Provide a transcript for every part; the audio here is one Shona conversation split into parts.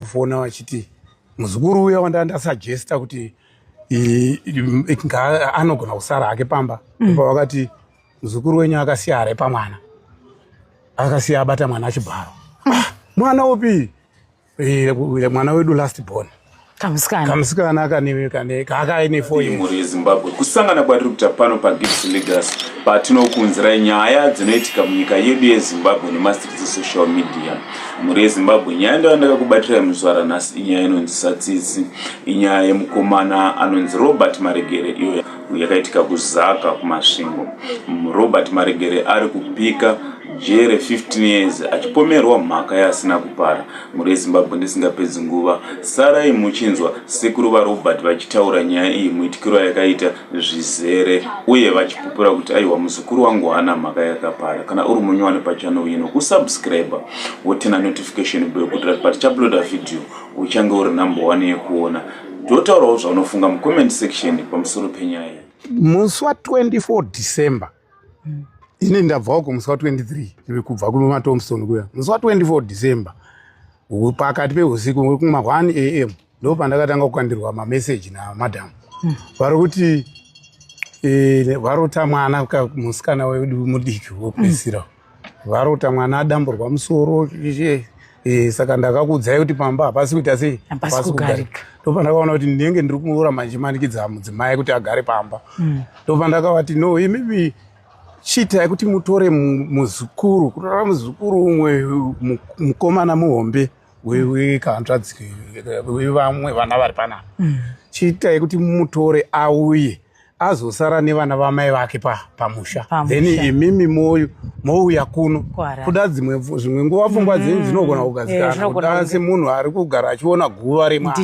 kufona vachiti muzukuru uya wanda ndasajesta kuti anogona kusara hake pamba mm. pavakati muzukuru wenyu akasiya hare pamwana akasiya abata mwana achibharo mm. ah, mwana upi eh, mwana wedu last born kamusikana akaine foimhuri yezimbabwe kusangana kwatiri kuita pano pagibs legas patinokuunzirai nyaya dzinoitika munyika yedu yezimbabwe nemast social media mhuri yezimbabwe nyaya ndo yandakakubatirai muzvara nhasi inyaya inonzi satsitsi inyaya yemukomana anonzi robert maregere iyo yakaitika kuzaka kumasvingo robert maregere ari kupika jere 15 years achipomerwa mhaka yaasina kupara mhuri yezimbabwe ndisingapedzi nguva sarai muchinzwa sekuru varobert vachitaura nyaya iyi muitikiro yakaita zvizere uye vachipupura kuti aiwa muzukuru wangu haana mhaka yakapara kana uri munyowani pachannel ino kusubscribe wotina notification bell kuitira kuti patichaploda video uchange uri number one yekuona totaurawo zvaunofunga mucomment section pamusoro penyaya iyi musi wa 24 december ini ndabvawo kumusi wa 23 ive kubva kumatomson kuya musi wa 24 december pakati peusiku kuma 1 am ndo pandakatanga kukandirwa mameseji namadam hmm. vari kuti e, varota mwana musikana wedu mudiki wopedzisira hmm. varota mwana adamburwa musoro e, saka ndakakuudzai kuti pamba hapasi kuita sei hapasi kugarika ndo pandakaona kuti ndinenge ndiri kuura manje manikidza mudzimai kuti agare pamba hmm. ndo pandakavati no imibi chiitai kuti mutore muzukuru kutora muzukuru umwe mukomana muhombe wekanzvadzi vevamwe vana vari panapa mm. chiitai kuti mutore auye azosara nevana vamai vake pamusha pa then imimi moyo mouya kuno kuda dzimwe zvimwe nguva pfungwa mm. dzenyu dzinogona kugadzikana eh, semunhu ari kugara achiona guva remwana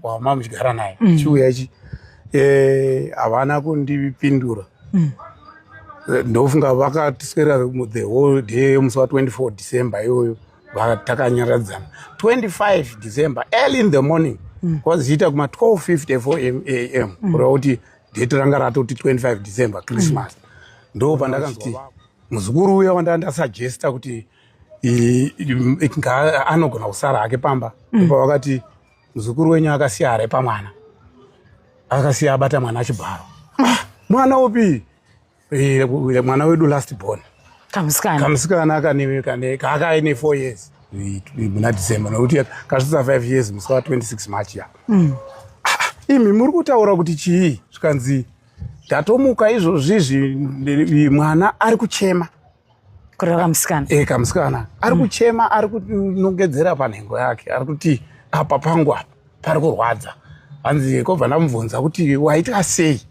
wama muchigara naye mm. chiuya ichi eh, havana kundipindura mm. eh, ndofunga vakatiswera the whole day musi wa 24 december iyoyo takanyaradzana 25 december early in the morning mm. kwaziita kuma 1254 am mm. kureva kuti date ranga ratoti 25 december christmas mm. ndo pandakati muzukuru uya wandanga ndasuggesta kuti anogona kusara hake pamba mm. pavakati muzukuru wenyu akasiya hare pamwana akasiya abata mwana achibharo ah, mwana upi Eh, mwana wedu last born kamusikana kamusikana kane kane kaakaine 4 years muna December nokuti kasvitsa 5 years musi wa 26 March ya mm. Ah, imi muri kutaura kuti chii zvikanzi ndatomuka izvozvizvi mwana ari kuchema kureva kamusikana e kamusikana ari mm. kuchema mm. ari kunongedzera panhengo yake ari kuti apa pangu apa pari kurwadza hanzi kobva ndamubvunza kuti waita sei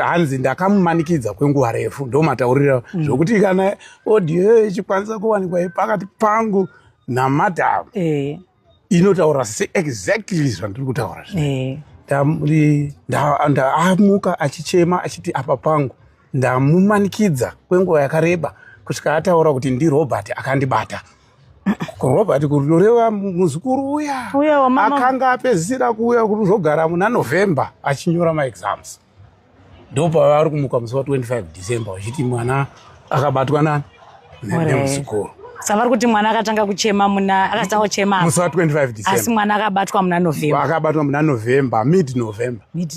hanzi ndakamumanikidza kwenguva refu ndomataurira mm. zvokuti kana audio ichikwanisa kuwanikwa pakati pangu namadam e. inotaura se exactly zvandiri kutaura zvi ndaamuka achichema achiti apa pangu ndamumanikidza kwenguva yakareba kusvika ataura kuti ndirobert akandibata kurobert kuroreva muzukuru uya akanga apedzisira kuuya kuzogara muna november achinyora maexams ndopavari kumuka musi wa 25 december vachiti mwana akabatwa nani nemuzukuru savari kuti mwana akatanga kuchema muna akatanga kuchema musi wa 25 december asi mwana akabatwa muna november akabatwa muna november mid november mid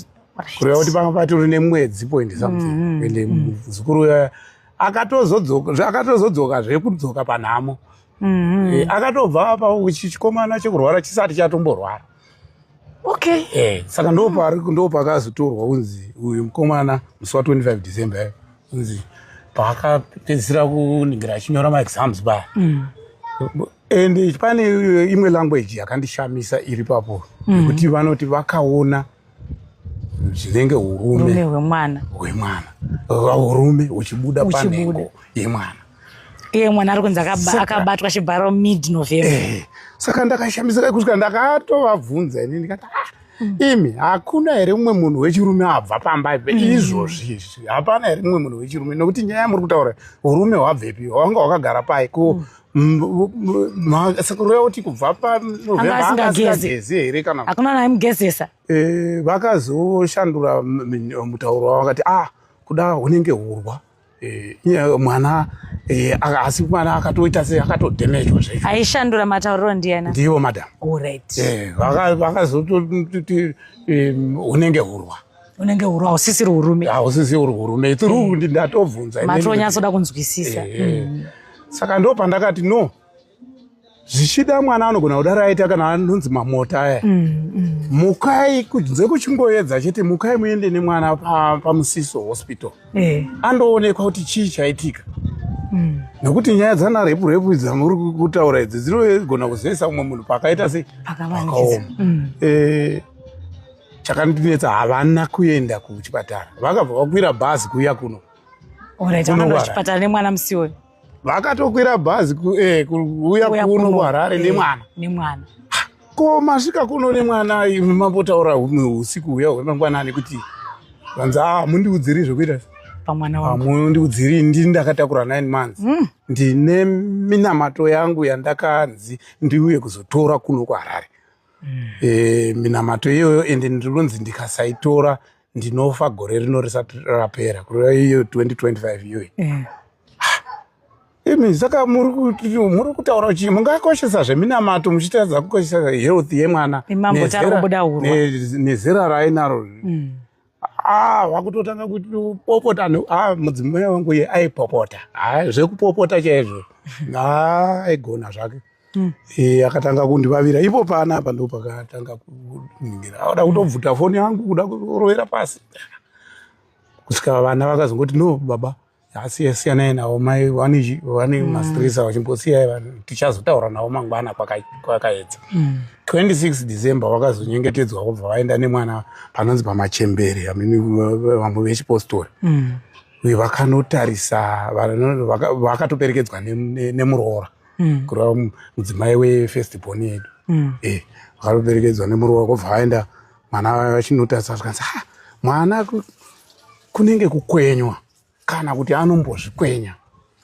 kureva kuti panga patori nemwedzi point something mm -hmm. ende mm. muzukuru mm. akatozodzoka akatozodzoka zvekudzoka panhamo mm -hmm. e, akatobva apa chikomana chekurwara chisati chatomborwara okay eh saka ndo pari ndo pakazotorwa unzi uyu mkomana musi wa 25 December eh, unzi paka pedzira kuningira achinyora ma exams ba mm. and pane imwe language yakandishamisa iri papo mm. kuti vanoti vakaona zvinenge urume hwemwana hwemwana urume uchibuda panhengo yemwana iye mwana ari kunzi akabatwa achibharo mid november eh, saka ndakashamisika kusvika ndakatovabvunza ini ndikati ah, hmm. imi hakuna here mumwe munhu wechirume abva pamba ipe hmm. izvozvi izvi hapana here mumwe munhu wechirume nokuti nyaya yamuri kutaura urume hwabvepi hwanga hwakagara pai ko hmm. sekuru uya kuti kubva panovhembaasingagezi here kana hakuna naimugezesa eh, vakazoshandura mutauro wavo vakati ah kuda hunenge hurwa eh, mwana eh, asi mwana akatoita se akatodhemejwa zvaizvo aishandura matauriro ndiyena ndivo madam vakazototii hunenge hurwa unenge huru hausisiri urume hausisi uri urume itiri mm. undi ndatobvunza matonyatsoda kunzwisisa mm. saka ndo pandakati no zvichida mwana anogona kudaro aita kana anonzi mamota aya mm, mm. mukai kunze kuchingoedza chete mukai muende nemwana pamusiso pa hospital eh. andoonekwa kuti chii chaitika mm. nokuti nyaya dzana repu repu dzamuri kutaura idzi dzinogona kuzoisa umwe munhu pakaita sei pakaoma mm. eh, chakandinetsa havana kuenda kuchipatara vakabva vakwira bhazi kuuya kuno chipatara nemwana musi uyu vakatokwira bhazi eh, kuuya kuno kuharare eh, nemwana nemwana ko masvika kuno nemwana imi mambotaura humwe usiku huya hwemangwanani kuti vanzi a ah, mundiudziri zvekuita pamwana wangu mundiudziri ndini ndakatakura nine months mm. ndine minamato yangu yandakanzi ndiuye kuzotora kuno kuharare e, minamato iyoyo ende ndinonzi ndikasaitora ndinofa gore rino risati rapera kureva iyo 2025 iyoyi eh. imi saka muri kutaura chii mungakoshesa zveminamato muchitadza kukoshesa health yemwana nezera rainaro mm. Ah, wakutotanga kuti popota no ah mudzimai wangu ye aipopota ah zvekupopota chaizvo ah aigona zvake Mm. Eh, akatanga kundivavira ipo pana apa ndo pakatanga kuningira auda kutobvuta foni yangu kuda kurovera pasi kusvika vana vakazongoti no baba asi siyanai navo mai vane vane mm. mastresa vachimbosiyai vanhu tichazotaura navo mangwana kwakaedza 26 mm. december vakazonyengetedzwa vobva vaenda nemwana panonzi pamachembere vamwe vechipostori mm. uye vakanotarisa vakatoperekedzwa nemuroora kureva mudzimai wefirst bon yedu eh, vakatoperekedzwa nemuroora kobva vaenda mwana vachinotarisa zvikanzi mwana kunenge kukwenywa kana kuti anombozvikwenya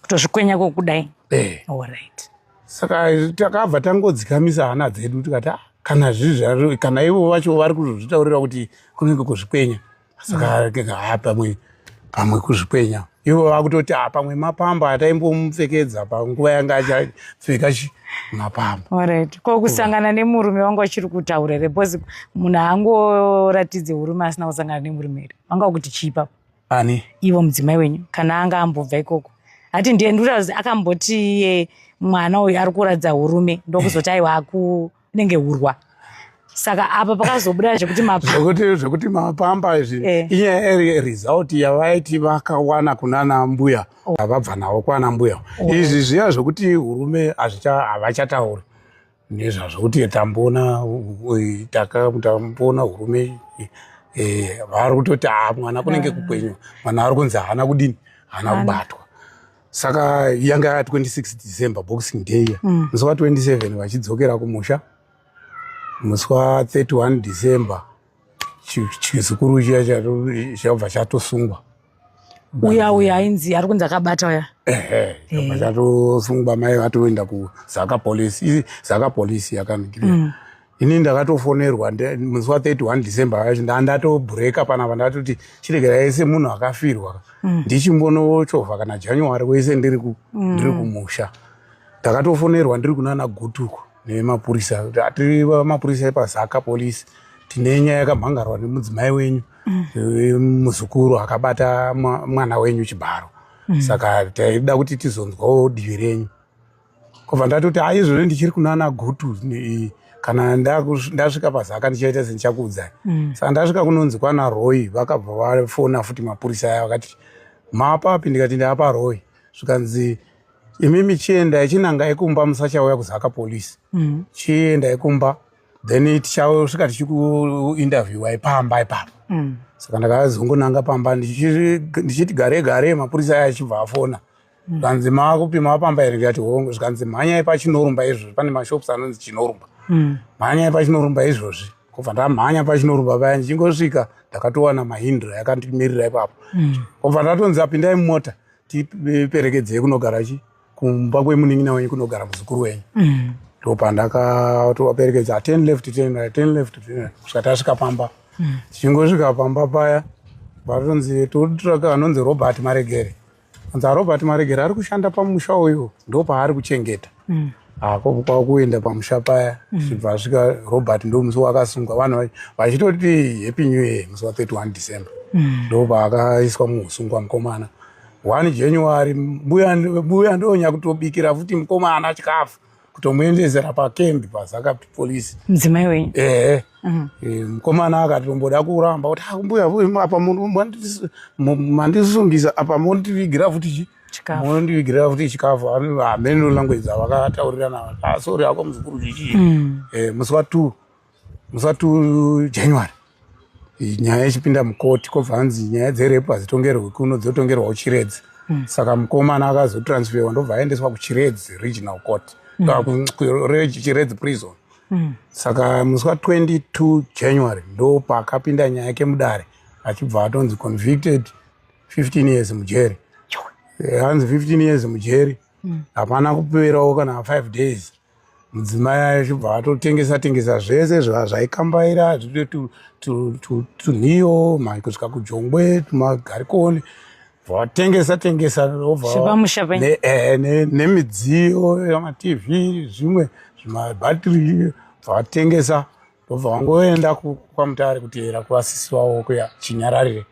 kutozvikwenya kokudai eh. right. saka takabva tangodzikamisa hana dzedu tikati ah, kana zvizvi kana ivo vacho vari kuzozvitaurira kuti kunenge kuzvikwenya saka mm. haa pamwe pamwe kuzvikwenya ivo vakutoti a ah, pamwe mapamba ataimbomupfekedza panguva yanga achapfeka mapamba orit ko kusangana nemurume wanga uchiri kutaura here bcause munhu angoratidze urume asina kusangana nemurume here vanga vakuti chii ipapo ani ivo mudzimai wenyu kana anga ambobva ikoko ati ndiye ndikutazi akamboti iye mwana uyu ari kuratidza urume ndokuzoti aiwa akunenge urwa saka apa pakazobuda zvekuti mapambakuti zvekuti mapamba izvi eh. inyaya iri result yavaiti vakawana kunana mbuya oh. vabva navo kwana mbuya oh. izvi zviya zvekuti urume hazvicha havachatauri nezvazvo kuti tamboona tamboona hurume eh, vari kutoti a ah, mwana kunenge kukwenywa mwana ari kunzi haana kudini haana kubatwa saka yanga ya 26 december boxing day iya mm. musi wa 27 vachidzokera kumusha musi wa 31 december chizukuru chiya chabva chatosungwa uya uya ainzi ari kunzi akabata uya ehe chobva eh. chatosungwa mai vatoenda kuzaka police zaka police yakanigiri mm. ini ndakatofonerwa musi wa 31 december yacho ndandatobreaka panapa ndatoti chiregera yese munhu akafirwa mm. ndichimbonochovha kana january wese ndiri mm. kumusha ndakatofonerwa ndiri kunana gutuko nemapurisa kuti atiri mapurisa epazaka police tine nyaya yakamhangarwa nemudzimai wenyu mm. muzukuru akabata mwana wenyu chibharo mm. saka taida kuti tizonzwawo divi renyu kobva ndatoti aizvozvo ndichiri kunana gutu kana ndasvika pazaka ndichaita sendichakuudzai mm. saka ndasvika kunonzi kwana roy vakabva vafona futi mapurisa aya vakati maapapi ndikati ndaaparoy zvikanzi imi michiendai chinangai kumba musachauya kuzaka police mm. chiendai kumba then tichasvika tichikuinterviewai pamba ipapa mm. saka ndakazongonanga pamba ndichiti gare gare mapurisa aya achibva afona mm. zvikanzi mm. makupima pamba here ndikati hongu zvikanzi mhanyai pachinorumba izvozvi pane mashops anonzi chinorumba mm. mhanyai pachinorumba izvozvi kobva ndamhanya pachinorumba paya ndichingosvika ndakatowana mahindra yakandimirira ipapo mm. kobva ndatonzi apindai mumota tiperekedzei kunogara chi kumba kwemunin'ina wenyu kunogara muzukuru wenyu mm. ndopandakatovaperekedza ah, ten left ten right ten left ten right kusvika tasvika pamba mm. tichingosvika pamba paya vatonzi totraka anonzi robert maregere anzi arobert ah, maregere ari kushanda pamusha uyu ndopaari kuchengeta mm. ako ah, kwakuenda pamusha paya mm. zvibva asvika robert ndo musi wakasungwa vanhu vachitoti happy new year musi wa 31 december mm. ndo paakaiswa muusungwa mukomana one january mbuya ndonya kutobikira futi mukomana chikafu kutomuendezera pakembi pazakapi polisi mudzimai wenyu ehe mhm. eh, mukomana akatomboda kuramba kuti akumbuya ah, apa mandisungisa apa mondivigira futi chii chikafu mondivigira futi chikafu hamene no language avakataurirana ah, sorry hako muzukuru chichii mm. eh, musi wa two musi wa two january nyaya ichipinda mukoti kobva hanzi nyaya dzerepu hadzitongerwe kuno dzotongerwa kuchiredzi mm. saka mukomana akazotransferwa ndobva aendeswa kuchiredzi regional court mm. kuchiredzi prison mm. saka musi wa 22 january ndopaakapinda nyaya yake mudare achibva atonzi convicted 15 years mujeri eh, hanzi 15 years mujeri hmm. hapana kuperawo kana 5 days mudzimai achibva atotengesa tengesa zvese zvaikambaira zvito tunhiyo kusvika kujongwe tumagarikoni vatengesa tengesa nemidziyo yamatv zvimwe zvimabatiri vatengesa ndobva wangoenda kwamutare kuteera kwasisi wavo kuya chinyararire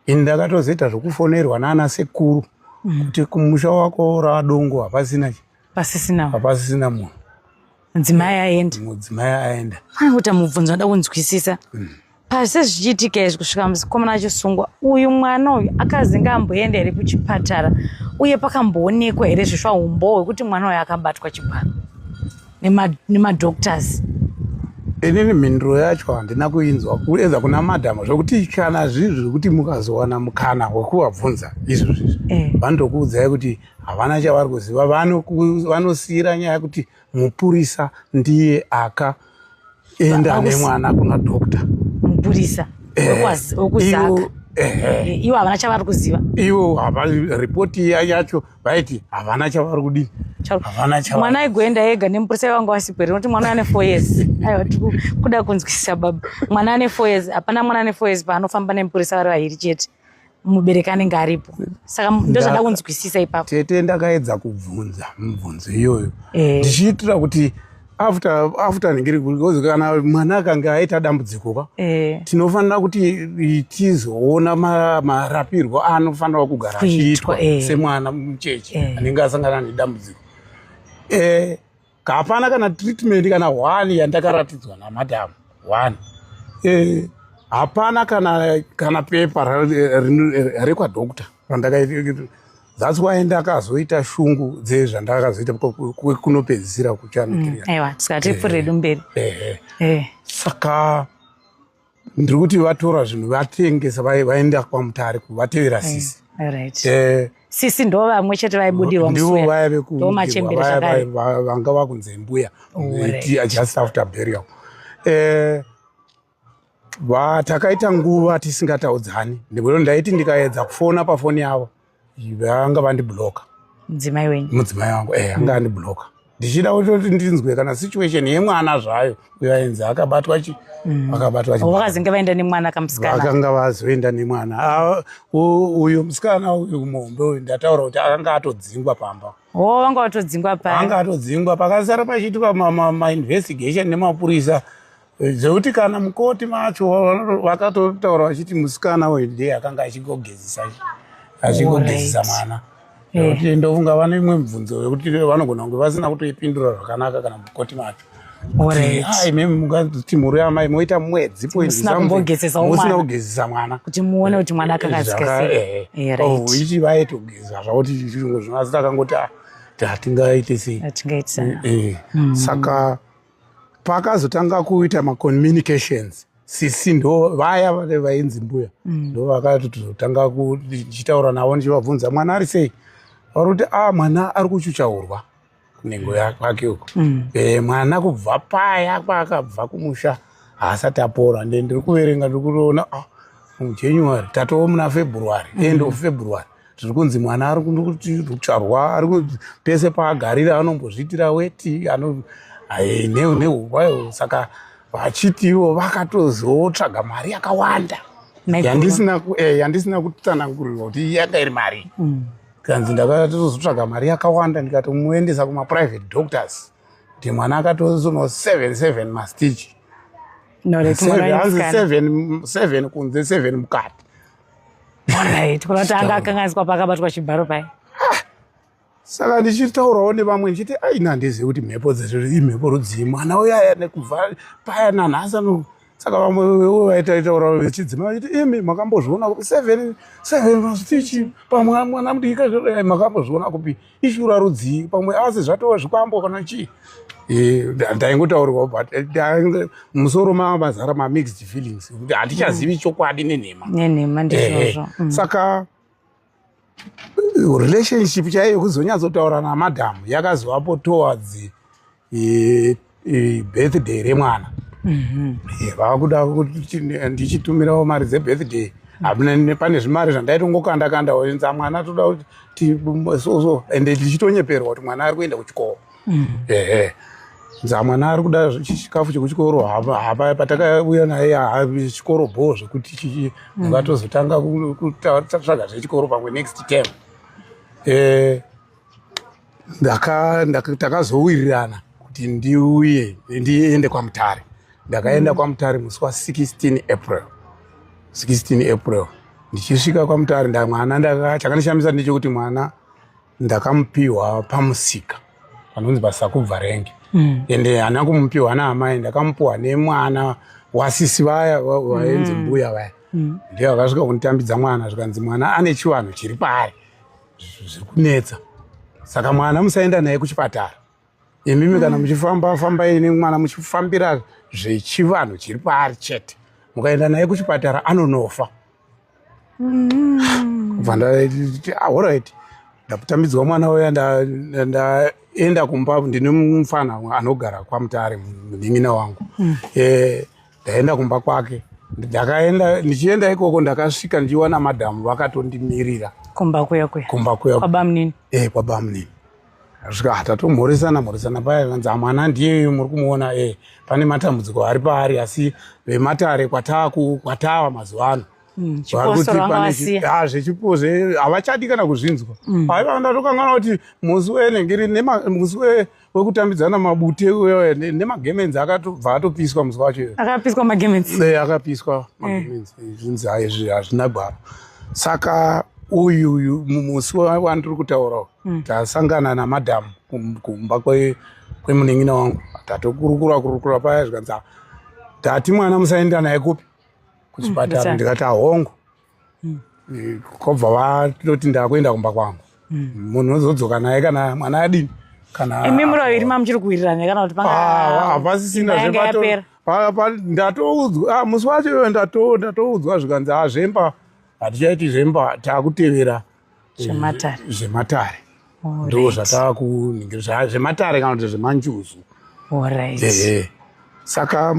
ini ndakatozoita zvokufonerwa naana sekuru mm. kuti kumusha wako radongo hapasina pasisina hapasisina munhu mudzimai aenda mudzimai aenda kana kuita mubvunzo nda kunzwisisa mm. pasi zvichiitika izvi kusvika muzikomana achisungwa uyu mwana uyu akazinga amboenda here kuchipatara uye pakamboonekwa here zvesva umbohwe kuti mwana uyu akabatwa chibharo nemadoctors inini mhinduro yacho handina kuinzwa kuedza kuna madhama zvokuti kana zvinhu zvekuti mukazowana mukana wekuvabvunza izvo zvizvi eh. vanotokuudzai kuti havana chavari kuziva vanosiyira nyaya yekuti mupurisa ndiye aka enda nemwana kuna doctor mupurisa wekuzaka eh, ivo havana chavari kuziva ivo ripoti iya yacho vaiti havana chavari kudii mwana aigoenda ega nemupurisa ivanga wasipo here noti mwana ane four years aiwa tikuda kunzwisisa baba mwana ane four years hapana mwana ane four years paanofamba nemupurisa vari vahiri chete mubereki anenge aripo saka ndozvada kunzwisisa ipapo tete ndakaedza kubvunza mibvunzo iyoyo eh. ndichiitira e. kuti after after ndingiri because kana mwana akange aita dambudziko ka eh. tinofanira kuti tizoona marapirwo aanofanira kugara achiitwa eh. semwana mucheche eh. anenge asangana nedambudziko eh, hapana kana treatment kana one yandakaratidzwa namadam one eh, hapana e, kana kana pepa rekwadoctor randakaita that's why ndakazoita shungu dzezvandakazoita kunopedzisira kuchanaiwa mm, tiskati pfuredu mberi saka ndiri kuti vatora zvinhu vatengesa vaenda kwamutare kuvatevera eh, sisi eh, sisi ndo vamwe chete vaibudirwa ndivo vaya vekuuvanga vakunze mbuya just after burial eh, takaita nguva tisingataudzani ndikuti ndaiti ndikaedza kufona pafoni yavo vanga vandibloka mudzimai wenyu mudzimai wangu eh anga andibloka ndichida kuti ndinzwe kana situation yemwana zvayo uyo ainzi akabatwa chi mm. akabatwa chi vakazenge vaenda nemwana kamusikana vakanga vazoenda nemwana ah, uyo musikana uyu muhombe uyu ndataura kuti akanga atodzingwa pamba o oh, vanga vatodzingwa pa anga atodzingwa pakasara pachiitwa mainvestigation nemapurisa dzekuti kana mukoti macho vakatotaura vachiti musikana uyu ndiye akanga achigogezisa achigogezisa mwana nekuti eh. ndofunga vane imwe mibvunzo yekuti vanogona kunge vasina kutoipindura zvakanaka kana mukoti macho imemungati mhuri yamai moita mwedzi poisina kugezesa mwana kuti muone kuti mwana akakazikaichi vaitogeza zvakuti zvinhu zvinoasi takangoti ah, hatingaite sei eh, eh. hmm. saka pakazotanga kuita macommunications sisi ndo vaya vave vainzi mbuya mm. ndo vakatotanga kuchitaura navo ndichivabvunza mwana ari sei vari kuti a ah, mwana ari kuchuchaurwa kunengo yakwake uko mm. e, mwana kubva paya kwaakabva kumusha haasati apora nde ndiri kuverenga ndiri kutoona ah, mujanuary tatoo muna february mm. end of february zviri kunzi mwana ari kucharwa ari pese paagarira anombozviitira weti ano nehuvayo saka vachiti ivo vakatozotsvaga mari yakawanda yandisina eh, yandisina kutsanangurirwa kuti yanga iri mari mm. kanzi ndakatozotsvaga mari yakawanda ndikatomuendesa kumaprivate doctors kuti mwana akatozono seven seven mastich hanzi seven kunze seven mukati Alright, kuna kuti anga akanganiswa pakabatwa chibharo paye. Saka ndichitaurawo nevamwe ndichiti ai nandizivi kuti mhepo dzezvo imhepo rudzii mwana uyo aya nekubva paya nanhasi ano saka vamwe vewo vaitaitaurawo vechidzima vachiti imi makambozviona kupi seven seven vachitichi pamwe mwana mudiki makambozviona kupi ishura rudzii pamwe asi zvatova zvikwambo kana chii eh, ndaingotaurwa but eh, musoro mava mazara mamixed feelings kuti handichazivi mm. chokwadi nenhema nenhema ndizvozvo eh, mm. saka relationship chaiyo kuzonyatsotaura namadhamu yakazovapo towards e, e, birthday remwana mm -hmm. e, vakuda kuti ndichitumirawo mari dzebirthday hamuna pane zvimari zvandaitongokanda kanda oenza mwana toda kuti soso and ndichitonyeperwa kuti mwana ari kuenda kuchikoro mm. ehe nza mwana ari kuda chikafu chekuchikoro hapa patakauya naye chikoro bho zvekuti mm. vatozotanga kutatsvaga zvechikoro pamwe next term eh, takazowirirana kuti ndiuye ndiende kwamutare ndakaenda mm. kwamutare musi wa 16 april 16 april ndichisvika kwamutare ndamwana chakandishamisa ndechekuti mwana ndakamupiwa pamusika panonzi pasakubva renge mm. ende hana kumupiwa naamai ndakamupiwa nemwana wasisi vaya vaenzi mm. mbuya vaya mm. ndiye vakasvika kunditambidza mwana zvikanzi mwana ane chivanhu chiri paari zviri kunetsa saka mwana musaenda naye kuchipatara imimi kana mm. muchifamba fambai nemwana muchifambira zvechivanhu chiri paari chete mukaenda naye kuchipatara anonofa mm. kubva ndaiti ahorit ah, ndakutambidzwa mwana uya ndaenda kumba ndine mufana anogara kwamutare munin'ina wangu mm. eh, ndaenda kumba kwake ndakaenda ndichienda ikoko ndakasvika ndichiwana madhamu vakatondimirira kumba kuya kuya kumba kuya kwabamunini eh kwabamunini asvika ah, tatomhoresana mhoresana paya vanzi amwana ah, ndiye muri kumuona eh pane matambudziko ari paari asi vematare kwataku kwatava mazuva ano Mm, ah, zvechipo zve havachadi kana kuzvinzwa mm. aiva ndatokangana kuti musi wenengiri musi wekutambidzana mabute uyo nemagemenzi akatobva atopiswa musi wacho akapiswa magemenzi eh, akapiswa eh. magemenzi eh, zvinzi haizvi hazvina gwara saka uyu uyu musi wandiri kutaurawo hmm. tasangana namadhamu kumba kwemuningina wangu tatokurukura kurukura paya zvikanzi tati mwana musaenda naye kupi kuchipatara hmm, ndikati ahongu mm. Eh, kobva vatoti ndakuenda kumba kwangu mm. munhu ozodzoka naye kana mwana adini kana imi muri vaviri mamuchiri kuwirirana kana kuti hapasisina zvepera ndatoudzwa ah, musi wacho iyoyo ndatoudzwa zvikanzi hazvemba ah, hatichaiti zvemba takutevera zvematare zvematare ndo zvatava kuningirisa zvematare kana kuti zvemanjuzu ehe saka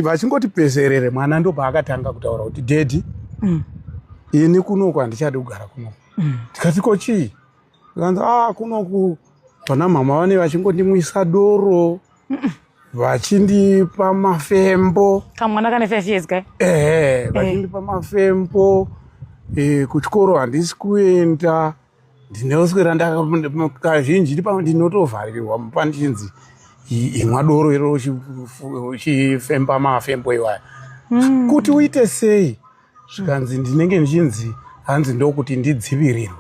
vachingoti peserere mwana ndo paakatanga kutaura kuti dedi mm. ini kunoku handichadi kugara kunoku mm. ndikati ko chii ikanzi a ah, kunoku vana mhama vane vachingondimwisa doro vachindipa mafembo kamwana kane five years kai ehe eh. vachindipa mafembo eh, kuchikoro handisi kuenda ndinoswera ndakazhinji ndipamwe ndinotovharirwa mupa ndichinzi imwa doro iro uchifemba mafembo iwaya hmm. kuti uite sei zvikanzi ndinenge ndichinzi hanzi ndokuti ndidzivirirwe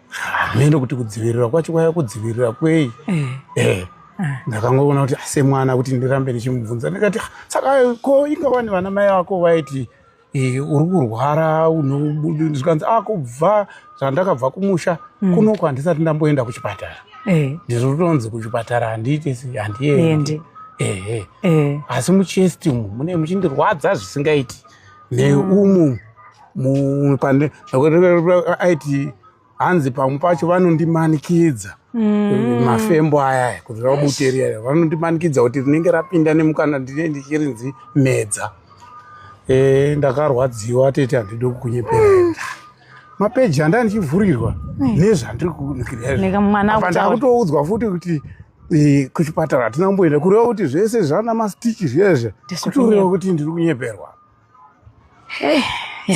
hameno kuti kudzivirira kwacho kwaya kudzivirira kwei eh. Eh. Ah. ndakangoona kuti ah, semwana kuti ndirambe ndichimubvunza ndikati ah, saka ko inga wani vana mai vako vaiti eh, uri kurwara unozvikanzi a kubva zvandakabva kumusha mm. kunoko handisati ndamboenda kuchipatara eh. ndiri kutonzi kuchipatara handiite handiende ehe asi muchesti umu mune muchindirwadza zvisingaiti neumu pane aiti hanzi pamwe pacho vanondimanikidza mm. mafembo aya kuti rabuteria vanondimanikidza kuti rinenge rapinda nemukana ndine ndichirinzi medza e, ndakarwadziwa tete handidi kukunyeperera mapeji andanichivhurirwa nezvandirikunikiraaakutoudzwa futi kuti Eh, kuchipatara hatina kumboenda kureva kuti zvese zvana mastichi zviyezve kutoreva kuti ndiri kunyeperwa eh,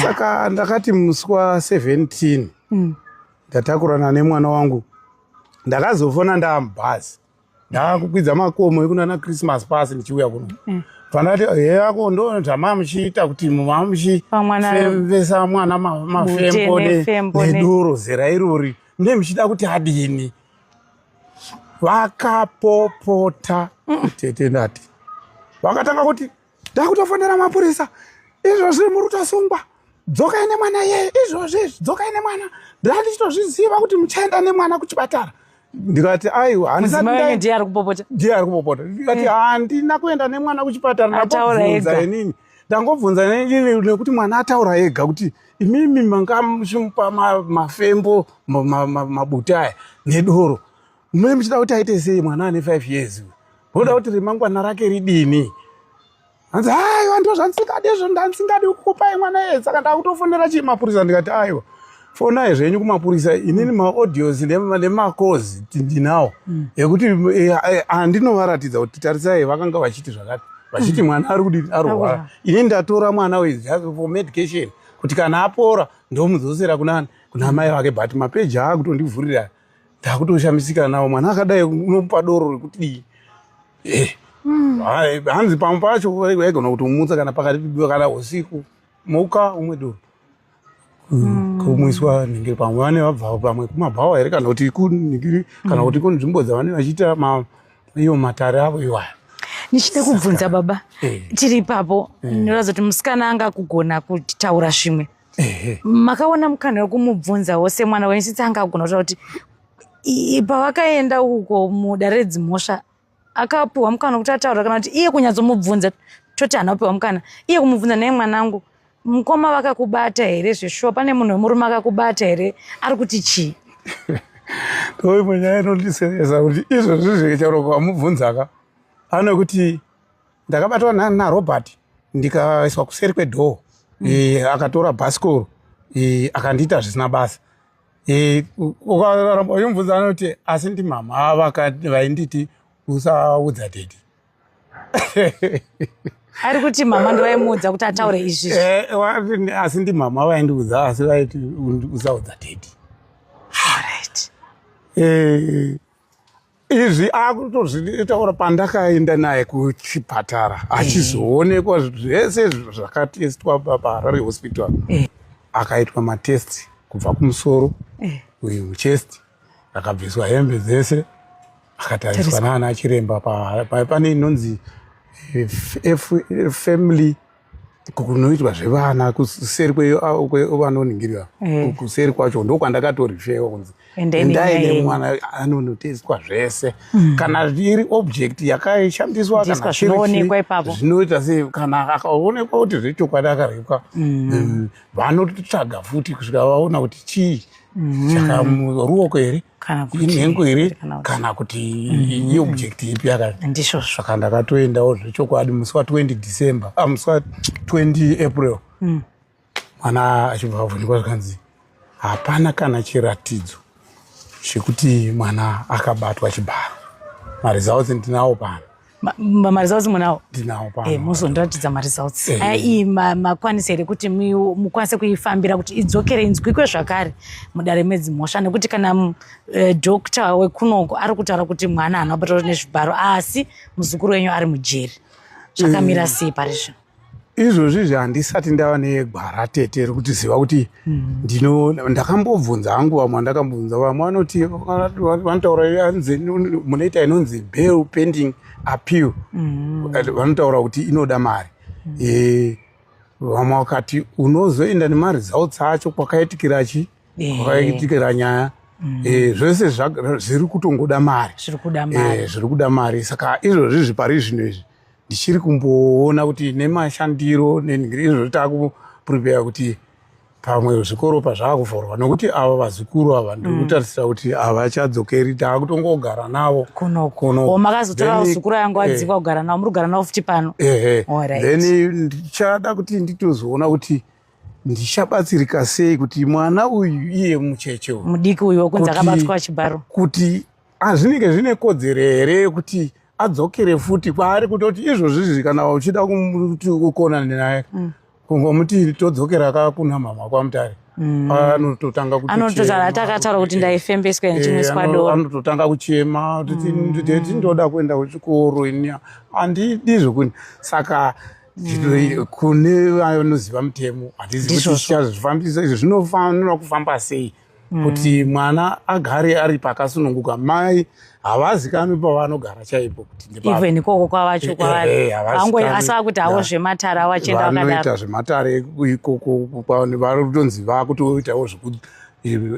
saka ndakati musi wa 17 mm. ndatakurana nemwana wangu ndakazofona ndaamubhazi ndaakukwidza makomo ekunana christmas pasi ndichiuya kuno mm. pandati heyako ndo zvama muchiita kuti mama muchifemvesa mwana mafembo nedoro zera irori ndemuchida kuti adini vakapopota mm, tete ndati vakatanga kuti ndakutofonera mapurisa izvozvi muri kutosungwa dzokai nemwana yeye izvozvi izvi dzokai nemwana ndandichitozviziva kuti muchaenda nemwana kuchipatara ndikati aiwa handisandiye ari kupopota ndiye ari kupopota ndikati eh. handina kuenda nemwana kuchipatara ndakobvunza inini ndangobvunza nekuti mwana ataura ega kuti imimi manga muchimupa mafembo mabuta aya nedoro mune muchida kuti aite sei mwana ane five years voda kuti remangwana rake ridini hanzi aiwa ndo zvandisingadi izvo ndandisingadi kukupai mwana ye saka ndakutofonera chii mapurisa ndikati aiwa fonai zvenyu kumapurisa inini maaudios nemacozi tindinawo mm. ekuti eh, eh, andinovaratidza kuti tarisai vakanga vachiti zvakati vachiti mm. mwana ari kudii arwara ini ndatora mwana for medication kuti kana apora ndomudzosera kunani kuna amai vake but mapeji aakutondivhurira ndakutoshamisika nawo mwana akadai unomupa doro rekutidii eh, mm. hanzi pamwe pacho aigona kutomutsa kana pakati kana usiku muka umwe doro Mm. kumwiswa ningiri pamwe vane vabvawo pamwe kumabhawa here kana kuti kuningiri kana mm. kuti kunzvimbo dzavane vachiita iyo matare avo iwaya ndichida kubvunza baba eh. tiri ipapo eh. ndinoratidza kuti musikana anga kugona kutaura zvimwe eh. makaona mukana wekumubvunzawo semwana wenyu since anga agona kutaura kuti pavakaenda uko mudare redzimhosva akapiwa mukana kuti ataura kana kuti iye kunyatsomubvunza toti hana kupiwa mukana iye kumubvunza naye mwanangu mukoma vakakubata here zveshuwa pane munhu wemurume akakubata here ari kuti chii ndoimwe nyaya inondiseresa kuti izvozvi zvekechauroka wamubvunzaka ano kuti ndakabatwa narobert ndikaiswa kuseri kwedhoo mm. eh, akatora bhasikoro eh, akandiita zvisina basa Eh, ukaramba uyomubvunza anoti asi ndimama vainditi usaudza dedi ari kuti mama ndovaimuudza kuti ataure izvi eh, asi ndimama vaindiudza asi vaiti usaudza dedi eh, izvi akutozvitaura pandakaenda naye kuchipatara achizoonekwa zvese zvakatestwa paharare hospital eh. akaitwa matest kubva kumusoro eh. uyu muchest akabviswa hembe dzese akatariswa naana chiremba pane inonzi eh, family kunoitwa zvevana kuseri kwevanoningirira ah, eh. kuseri kwacho ndokwandakatorifewa kunzi endai nemwana anonoteswa zvese hmm. kana iri object yakaishandiswa zvinoita sei kana akaonekwa kuti zvechokwadi akaripwa hmm. eh, vanotsvaga futi kusvika vaona kuti chii mm. saka ruoko here inhengo here kana kuti mm. iobject ipi akandizvo saka ndakatoendawo zvechokwadi musi wa 20 december ah, musi wa 20 april mm. mwana achibva avhunjwa zvikanzi hapana kana chiratidzo chekuti mwana akabatwa chibharo maresults ndinawo pano maresults munawo ndinawo pano eh, muzondiratidza maresults eh. aya iyi makwanisa here kuti mukwanise kuifambira kuti idzokere inzwikwe zvakare mudare medzi mhosva nekuti kana eh, doctor wekunoko ari kutaura kuti mwana haana kubatwa nezvibharo asi muzukuru wenyu ari mujeri zvakamira sei pari zvino izvozvizvi handisati ndava negwara tete rekuti ziva kuti hmm. ndino ndakambobvunza hangu vamwe vandakambobvunza vamwe vanoti vanotaura anzi munoita inonzi bail pending appeal hmm. vanotaura kuti inoda mari hmm. eh, vamwe vakati unozoenda nemari dzautsa acho kwakaitikira chi eh. kwakaitikira nyaya Mm. Eh, zvese zviri kutongoda mari zviri kuda mari eh, saka izvozvizvi pari zvino izvi ndichiri kumboona kuti nemashandiro nezvo takuprepare kuti pamwe zvikoro pazvakuvhurwa nokuti ava vazukuru ava ndikutarisira mm. kuti havachadzokeri taakutongogara navo kunokmakazotora zukuru yangu eh. adziva kugara navo muri kugara navo futi pano ehe then ndichada kuti nditozoona kuti ndichabatsirika sei kuti mwana uyu iye mucheche uyu mudiki uyu wekunzi akabatwa chibharo kuti azvinenge zvine kodzero here yekuti adzokere futi kwaari kutoti izvozvizvi kana uchida kuti ukona naye mm. kungomuti todzokera ka kuna mhamha kwamutare mm. anototanga kutotaatakataura kuti ndaifembeswa eh, ndichimuswadoanototanga kuchema kuti ndoda kuenda kuchikoro ini handidi zvekuni saka mm. kune vanoziva mutemo handizii kuti chichazvifambisa izvo zvinofanira kufamba sei mm. kuti mwana agare ari pakasununguka mai havazikanwi pavanogara chaipo kuti even ikoko kwavacho eh, kwavari eh, eh, asi vakuti havo zvematare avachendavanoita zvematare ikoko vakutonzi vakutoitawo zvekuti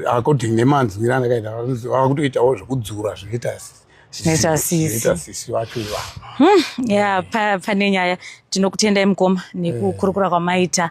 according nemanzwira andakaita vakutoitawo zvekudzura zvinoita sisi vacho ivavo hmm, ya pane nyaya tinokutendai mukoma nekukurukura kwamaita